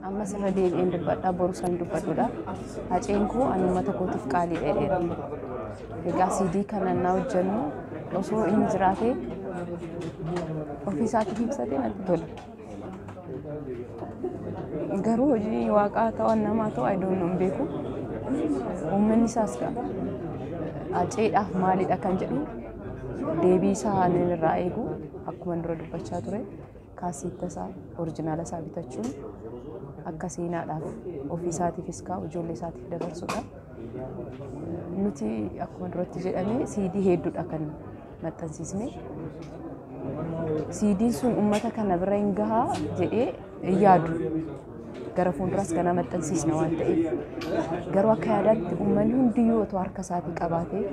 Ammas irra deebi'een dubbadha boru san dubbadudha. Haceen koo ani uummata kootiif qaalii dheedheera. Egaa siidii kana na hojjennu osoo inni jiraatee ofiisaatiif ibsatee natti tola. Garuu hojii waaqaa ta'u namaa ta'u ayidoon hin beeku. Uummanni isaas haceedhaaf maalidha kan jedhu deebii isaa irraa eegu akkuma dura dubbachaa ture. Kaaseetta isaa orijinaala isaa bitachuun akka seenaadhaaf ofii isaatiifis kaa ijoollee isaatiif dabarsudha. Nuti akkuma duratti jedhame siidii hedduudha kan maxxansiisne. Siidiin sun uummata kana bira hin gahaa jedhee hin yaadu. Gara fuulduraas ganaa maxxansiisna waan ta'eef. Garuu akka yaadaatti uummanni hundiyyuu otoo harka isaatii qabaatee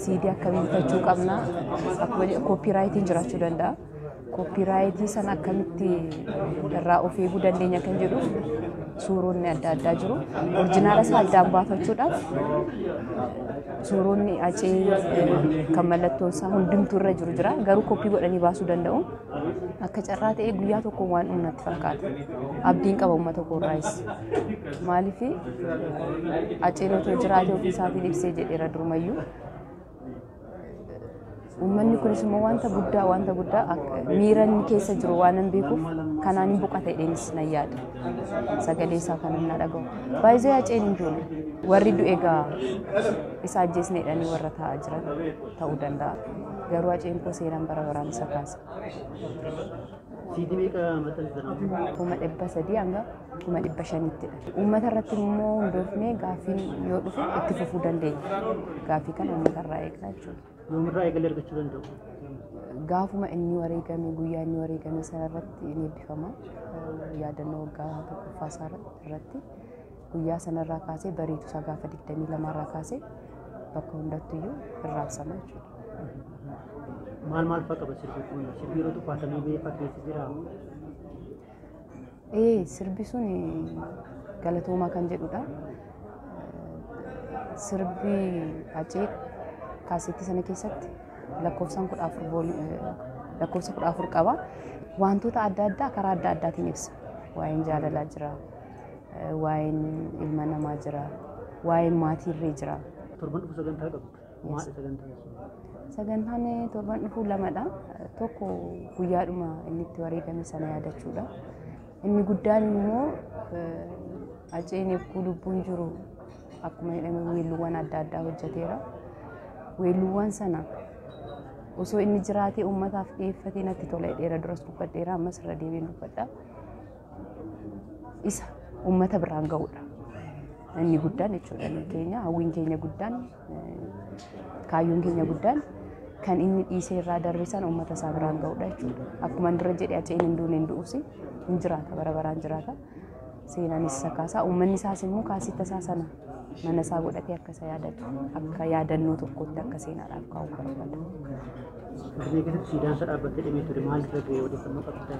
Siidii akkamiin bitachuu qabna? Akkuma jedhu kooppiiraayitiin jiraachuu danda'a. Kooppiiraayitii sana akkamitti irraa of eeguu dandeenya kan jedhu suuronni adda addaa jiru. Orjinaala isaa addaan baafachuudhaaf suuronni acee kan mallattoon isaa hundumtuu irra jiru jira. Garuu koppii godhanii baasuu danda'u. Akka carraa ta'ee guyyaa tokko waan dhumu natti fakkaata. Abdiin qaba uummata koorraayis. Maaliif aceen otoo jiraate ofii isaatiin ibsee jedheera durumayyuu. Uummanni kunis immoo wanta guddaa wanta guddaa akka- miira inni keessa jiru waan hin beekuuf kanaan hin boqata jedheenis nan yaada. Sagalee isaa kan inni dhagahu. Baay'ee aceen hin joone. Warri du'e egaa isa ajjeesneedhanii warra taa'aa jiran. ta'uu danda'a. Garuu haceen koo seenaan bara baraan isa kaasa. Siidii meeqa maxxansitan amma? kuma dhibba sadii hanga kuma dhibba shanittidha. Uummata irratti immoo hundoofnee gaaffiin yoo dhufe itti fufuu dandeenya. Gaaffii kana uummata irraa eegnaa jechuudha. Yoomirraa eegalee argachuu danda'u? Gaafuma inni wareegame guyyaa inni wareegame sana irratti ni eebbifama. Yaadannoo waggaa tokkoffaa isaa irratti Guyyaa sanarraa kaasee bariitu isaa gaafa 22 irraa kaasee bakka hundattuyyuu irraabsama jechuudha. Maal maal fa'a qaba sirbi kun? Sirbi yeroo tuffaatamee ba'ee fakkeessi jira. Ee sirbi sun galatoomaa kan jedhudha. Sirbi Hacee kaaseetti sana keessatti lakkoofsaan kudha afur bool- eh, lakkoofsa kudha afur qaba. Wantoota adda addaa karaa adda addaatiin ibsa. Waa'een jaalalaa jira, waa'een ilma namaa jira, waa'een maatii illee jira. Torban dhufu sagantaa qabdu. Maadha sagantaan sun? Sagantaan torban dhufu lamadha. Tokko guyyaadhuma inni itti wareegame sana yaadachuudha. Inni guddaan immoo Haceen yogguu lubbuun jiru akkuma jedhame weelluuwwan adda addaa hojjeteera. Weelluuwwan sana osoo inni jiraatee uummataaf dhiyeeffatee natti tola jedheera duras dubbadheera ammas irra deebiin dubbadha. isa uummata biraan ga'uudha. Inni guddaan jechuudha inni keenya hawwiin keenya guddaan eh, kaayyoon keenya guddaan kan inni dhiisee irraa darbe sana uummata isaa biraan ga'uudha jechuudha. Akkuma inni dura jedhe aceen hin duune hin du'uusi hin jiraata bara baraan jiraata. Seenaanis isa kaasaa uummanni isaas immoo kaasita isaa sana mana isaa godhatee akka isa yaadatu akka yaadannoo tokkotti akka seenaadhaaf kaa'u barbaada. Finfinnee keessatti siidaan isaa dhaabbatee dhimee ture maal irra ga'e odeeffannoo qabdaa?